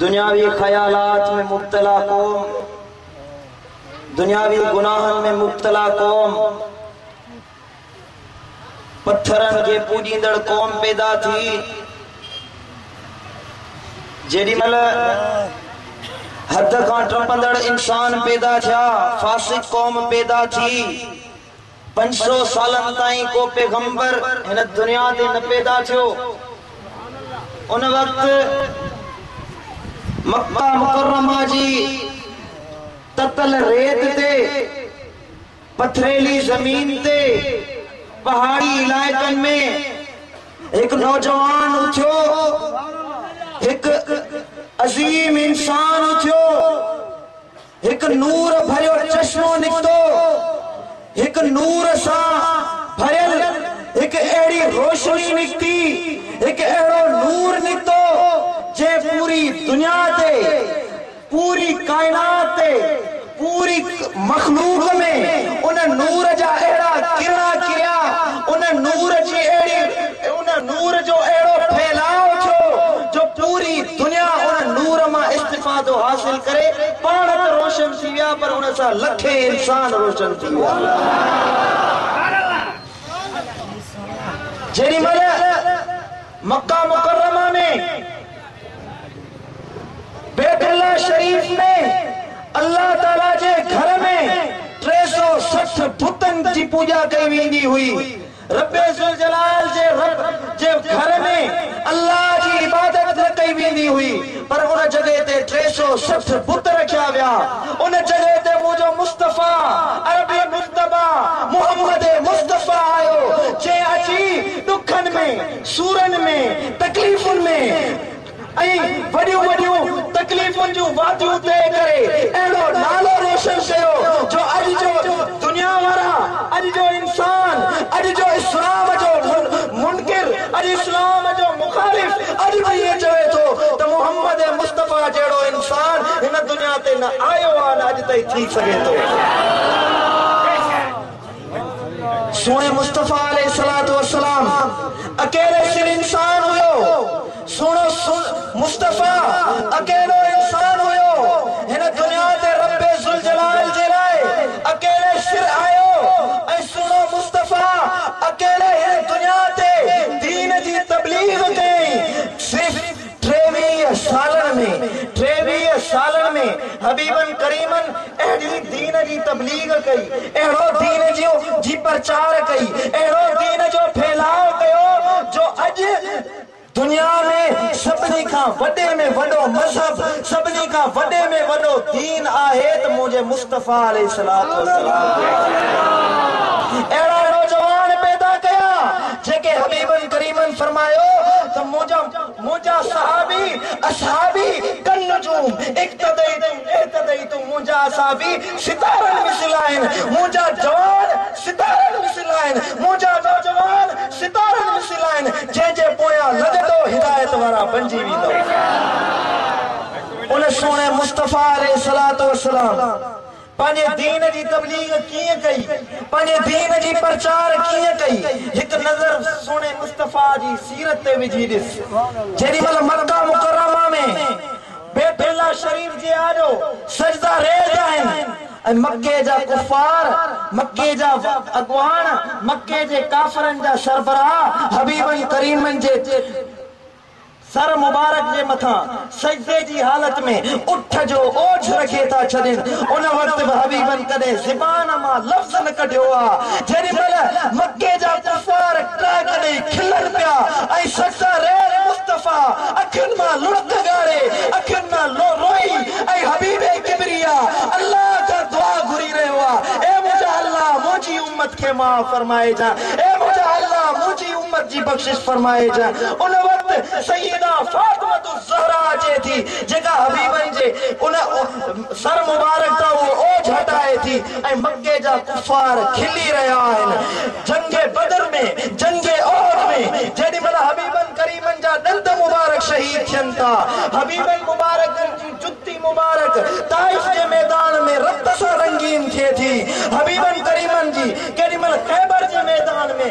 دنياوي خيالات ۾ مبتلا قوم، دنياوي گناهن ۾ مبتلا قوم، پٿرن کي پوڄيندڙ قوم پيدا ٿي. جيڏي مهل حد کان ٽپندڙ انسان پيدا ٿيا، فاسق قوم پيدا ٿي. پنج سؤ سالن تائين ڪو پيغمبر هن دنيا تي نه پيدا ٿيو. ان وقت مڪه مڪرمه جي تتل ريت تي، پٿريلي زمين تي، پهاڙي علائقن ۾ هڪ نوجوان اٿيو، هڪ عظيم انسان اٿيو، هڪ نور ڀريو چشمو نڪتو، هڪ نور سان ڀريل هڪ اهڙي روشني نڪتي، هڪ اهڙو نور نڪتو جنهن پوري دنيا تي، پوري ڪائنات تي، پوري مخلوق ۾ ان نور جا اهڙا ڪرڻا ڪريا، ان نور جي اهڙي. ۽ ان نور جو اهڙو ڦهلاء ٿيو جو پوري دنيا ان نور مان استفادو حاصل ڪري پاڻ ته روشن ٿي ويا پر ان سان لکين انسان روشن ٿي ويا. جيڏي مهل مڪه مڪرمه ۾ بيت الله شريف ۾ الله تعالي جي گهر ۾ ٽي سؤ سٺ بتن جي پوڄا ڪئي ويندي هئي ربّ ذوالجلال جي رب جي گهر ۾ الله جي عبادت نه ڪئي ويندي هئي، پر ان جڳهه تي ٽي سؤ سٺ بت رکيا ويا. ان جڳهه تي منهنجو مصطفيٰ، عربي مجتبيٰ، محمد مصطفيٰ آيو، جنهن اچي ڏکن ۾، سورن ۾، تڪليفن ۾، ۽ وڏيون وڏيون تڪليفن جون واديون طئي ڪري اهڙو نالو روشن ڪيو جو اڄ جو دنيا وارا، اڄ جو انسان، اڄ جو اسلام جو منڪر، اڄ اسلام جو مخالف اڄ به ائين چوي ٿو ته محمد مصطفيٰ جهڙو انسان هن دنيا تي نه آيو آهي نه اڄ تائين ٿي سگهي ٿو. سوڻي مصطفيٰ عليه الصلوة والسلام اڪيلو سر انسان هيو سوڻو مصطفيٰ اڪيلو انسان هيو هن دنيا تي رب ذوالجلال جي لاء اڪيلي سر آيو ۽ سوڻو مصطفيٰ اڪيلي هن دنيا تي دين جي تبليغ ڪيائين صرف ٽيويهه سالن ۾ ٽيويهه سالن ۾ حبيبن ڪريمن اهڙي دين جي تبليغ ڪئي، اهڙو دين جي پرچار ڪئي، اهڙو دين جو ڦهلاء ڪيو جو اڄ دنيا ۾ سڀني کان وڏي ۾ وڏو مذهب، سڀني کان وڏي ۾ وڏو دين آهي ته منهنجي مصطفيٰ عليه الصلوة والسلام جو آهي. اهڙا نوجوان پيدا ڪيا. جيڪي حبيبن ڪريمن فرمايو ته منهنجا صحابي اصحابي ڪالنجوم اقتديتم اهتديتم منهنجا اصحابي ستارن مثل آهن منهنجا جوان ستارن مثل آهن منهنجا نوجوان ستارن مثل آهن جنهن جي پويان لڳندو هدايت وارا بنجي ويندو ان سهڻي مصطفيٰ عليه الصلوة والسلام پنهنجي دين جي تبليغ ڪيئن ڪئي، پنهنجي دين جي پرچار ڪيئن ڪئي، هڪ نظر سهڻي مصطفيٰ جي سيرت تي وجهي ڏس. جيڏي مهل مڪه مڪرمه ۾ بيت الله شريف جي آڏو سجدا ريز آهن ۽ مڪي جا ڪفار، مڪي جا اڳواڻ، مڪي جي ڪافرن جا سربراهه حبيبن ڪريمن جي. سر مبارڪ جي مٿان سجدي جي حالت ۾ اٺ جو اوجھ رکي ٿا ڇڏين، ان وقت به حبيبن ڪڏهن زبان مان لفظ نه ڪڍيو آ، جيڏي مھل مڪي جا ڪفار ٽهڪ ڏئي کلن پيا ۽ سجده ريل مصطفيٰ اکين مان لڙڪ ڳاڙي اکين مان لو روئي ۽ حبيب ڪبريا الله کان دعا گھري رهيو آ، اي منھنجا الله منھنجي امت کي معاف فرمائجان، اي منھنجا الله منھنجي. ساري امت جي بخشش فرمائي جو ان وقت سيده فاطمة الزهراء اچي ٿي جيڪا حبيبن جي ان سر مبارڪ تان اهو اوجهه هٽائي ٿي ۽ مڪي جا ڪفار کلي رهيا آهن جنگ بدر ۾ جنگ احد ۾ جيڏي مهل حبيبن ڪريمن جا ڏند مبارڪ شهيد ٿين ٿا حبيبن مبارڪن جي جتي مبارڪ طائف جي ميدان ۾ رت سان رنگين ٿئي ٿي حبيبن ڪريمن جي ڪيڏي مهل خيبر جي ميدان ۾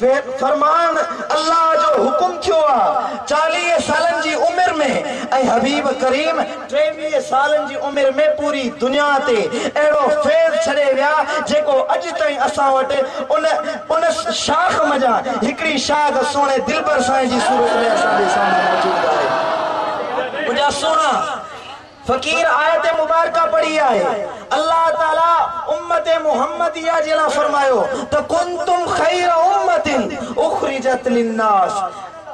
ويت فرمان الله جو حڪم ٿيو آ چاليهه سالن جي عمر ۾ ۽ حبيب ڪريم ٽيويهه سالن جي عمر ۾ پوري دنيا تي اهڙو فيض ڇڏي ويا جيڪو اڄ تائين اسان وٽ ان ان شاخ منجهان هڪڙي شاخ سهڻي دلبر سائين جي صورت ۾ اسان جي سامهون موجود آهي. منهنجا سهڻا. فقير آيت مبارڪه پڙهي آهي، الله تعالي امت محمديه جي لاء فرمايو ته ڪنتم خير امة اخرجت للناس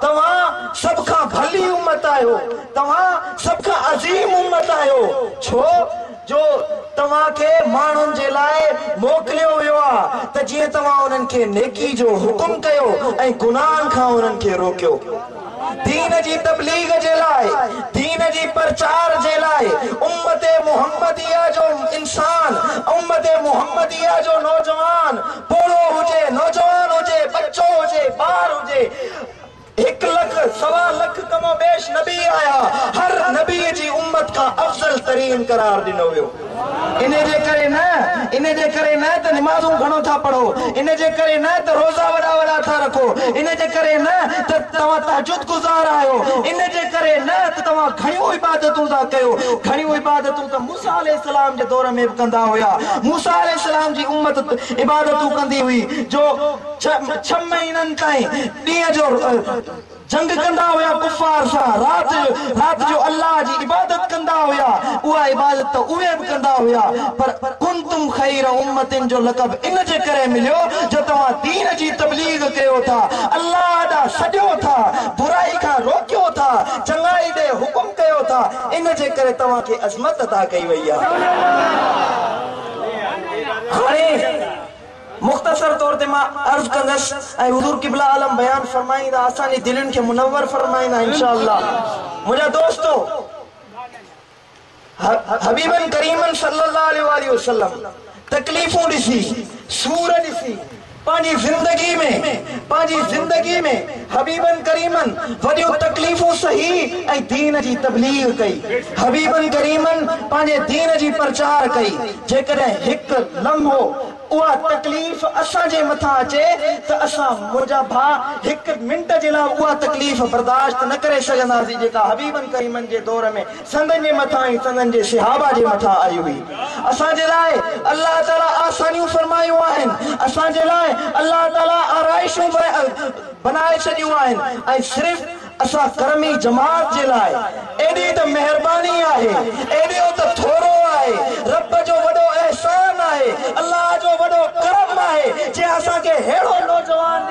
توهان سڀ کان ڀلي امت آهيو، توهان سڀ کان عظيم امت آهيو، ڇو جو توهان کي ماڻهن جي لاء موڪليو ويو آهي ته جيئن توهان انهن کي نيڪي جو حڪم ڪيو ۽ گناهن کان انهن کي روڪيو. دين جي تبليغ جي لاء، دين جي پرچار جي لاء امت محمديه جو انسان، امت محمديه جو نوجوان، پوڙهو هجي، نوجوان هجي، ٻچو هجي، ٻار هجي، هڪ لک، سوا لک ڪم و بيش نبي آيا، هر نبي جي امت کان افضل ترين قرار ڏنو ويو. ان جي ڪري نه، ان جي ڪري نه ته نمازون گهڻو ٿا پڙهو، ان جي ڪري نه ته روزا وڏا وڏا ٿا رکو، ان جي ڪري نه ته توهان تهجد گذار آهيو، ان جي ڪري نه ته توهان گهڻيون عبادتون ٿا ڪيو، گهڻيون عبادتون ته موسيٰ عليه السلام جي دور ۾ به ڪندا هيا، موسيٰ عليه السلام جي امت عبادتون ڪندي هئي جو ڇهه مهينن تائين ڏينهن جو جنگ ڪندا هيا ڪفار سان رات جو رات جو الله جي عبادت ڪندا هيا اها عبادت ته اهي به ڪندا هيا پر ڪنتم خير امة جو لقب ان جي ڪري مليو جو توهان دين جي تبليغ ڪيو ٿا الله ڏانهن سڏيو ٿا برائي کان روڪيو ٿا چڱائي ڏي حڪم ڪيو ٿا ان جي ڪري توهان کي عظمت عطا ڪئي وئي آهي هاڻي مختصر طور تي مان عرض ڪندس ۽ حضور قبلة عالم بيان فرمائيندا اسان جي دلين کي منور فرمائيندا انشاء الله منهنجا دوستو حبيبن ڪريمن صلي الله عليه واٰله وسلم تڪليفون ڏسي سور ڏسي پنهنجي زندگي ۾ پنهنجي زندگي ۾. حبيبن ڪريمن وڏيون تڪليفون سهي ۽ دين جي تبليغ ڪئي. حبيبن ڪريمن پنهنجي دين جي پرچار ڪئي. جيڪڏهن هڪ لمحو اها تڪليف اسان جي مٿان اچي ته اسان منهنجا ڀاء هڪ منٽ جي لاء اها تڪليف برداشت نه ڪري سگهنداسين جيڪا حبيبن ڪريمن جي دور ۾ سندن جي مٿان ۽ سندن جي صحابه جي مٿان آئي هئي. اسان جي لاء الله تعاليٰ آسانيون فرمايون آهن، اسان جي لاء الله تعاليٰ آرائشون بنائي ڇڏيون آهن ۽ صرف اسان ڪرمي جماعت جي لاء ايڏي ته مهرباني آهي، ايڏو ته ٿورو آهي، رب جو وڏو احسان آهي، الله جو وڏو ڪرم آهي جنهن اسان کي ههڙو نوجوان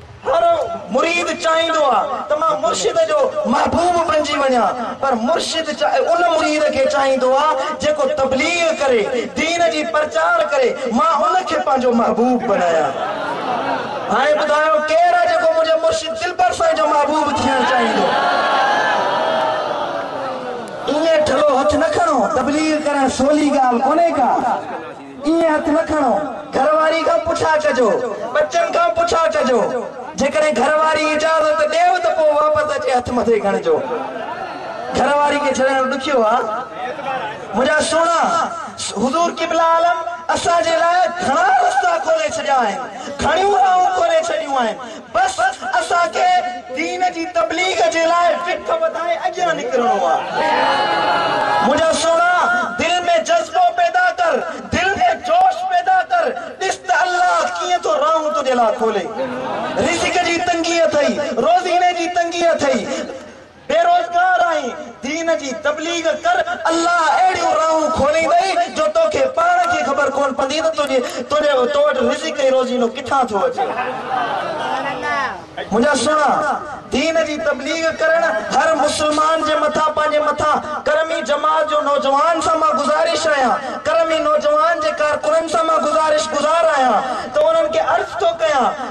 هر مريد چاهيندو آ ته مان مرشد جو محبوب بنجي وڃان پر مرشد ان مريد کي چاهيندو آ جيڪو تبليغ ڪري دين جي پرچار ڪري مان ان کي پنهنجو محبوب بنايان هاڻي ٻڌايو ڪير آ جيڪو منهنجي مرشد دلبر سائين جو محبوب ٿيڻ چاهيندو ائين ٺلهو هٿ نه کڻو تبليغ ڪرڻ سولي ڳالهه ڪونهي ڪا. ائين هٿ نه کڻو، گهر واري کان پڇا ڪجو، ٻچن کان پڇا ڪجو، جيڪڏهن گهر واري اجازت ڏيو ته پوء واپس اچي هٿ مٿي کڻجو. گهر واري کي ڇڏڻ ڏکيو آ. منهنجا سهڻا، حضور قبله عالم اسان جي لاء گهڻا رستا کولي ڇڏيا آهن، گهڻيون راهون کولي ڇڏيون آهن، بس اسان کي دين جي تبليغ جي لاء فڪ وڌائي اڳيان نڪرڻو آ منهنجا سهڻا دل ۾ جذبو پيدا ڪر دل ۾ جوش پيدا ڪر ڏس ته الله ڪيئن ٿو راهون تنهنجي لاء کولي رزق جي تنگي اٿئي روزيني جي تنگي اٿئي بي روزگار آهين دين جي تبليغ ڪر الله اهڙيون راهون کوليندئي جو توکي پاڻ کي خبر ڪون پندي ته تنهنجي تنهنجي تو وٽ رزق ۽ روزينو ڪٿان ٿو اچي. منهنجا سهڻا دين جي تبليغ ڪرڻ هر مسلمان جي مٿان پنهنجي مٿان قرمي جماعت جو نوجوان سان مان گذارش آهيان قرمي نوجوان جي ڪارڪنن سان مان گذارش گذار آهيان ته انهن کي عرض ٿو ڪيان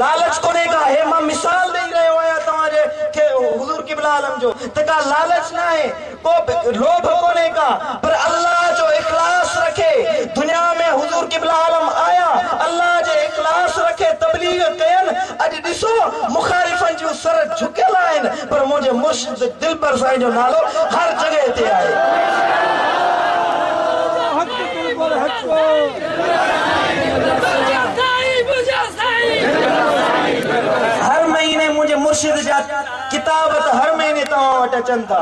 لالچ ڪونهي ڪا هي مان مثال ڏئي رهيو آهيان توهان جي کي حضور قبله عالم جو ته ڪا لالچ ناهي ڪو به لوڀ ڪونهي ڪا پر الله جو اخلاص رکي دنيا ۾ حضور قبله عالم آيا الله جي اخلاص رکي تبليغ ڪين اڄ ڏسو مخالفن جون سر جهڪيل آهن پر منهنجي مرشد سيد دلبر سائين جو نالو هر جڳهه تي آهي. هر مهيني منهنجي مرشد جا ڪتاب ته هر مهيني توهان وٽ اچن ٿا.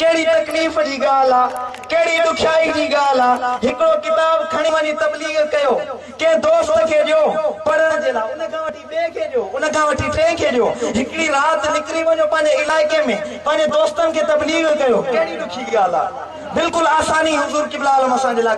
ڪهڙي تڪليف جي ڳالهه آ، ڪهڙي ڏکيائي جي ڳالهه آ، هڪڙو ڪتاب کڻي وڃي تبليغ ڪيو، ڪنهن دوست کي ڏيو پڙهڻ جي لاء. ٻئي کي ڏيو، ان کان وٺي ٽئين کي ڏيو. هڪڙي رات نڪري وڃو پنهنجي علائقي ۾ پنهنجي دوستن کي تبليغ ڪيو. ڪهڙي ڏکي ڳالهه آ. بلڪل آساني حضور قبله عالم اسان جي لاء.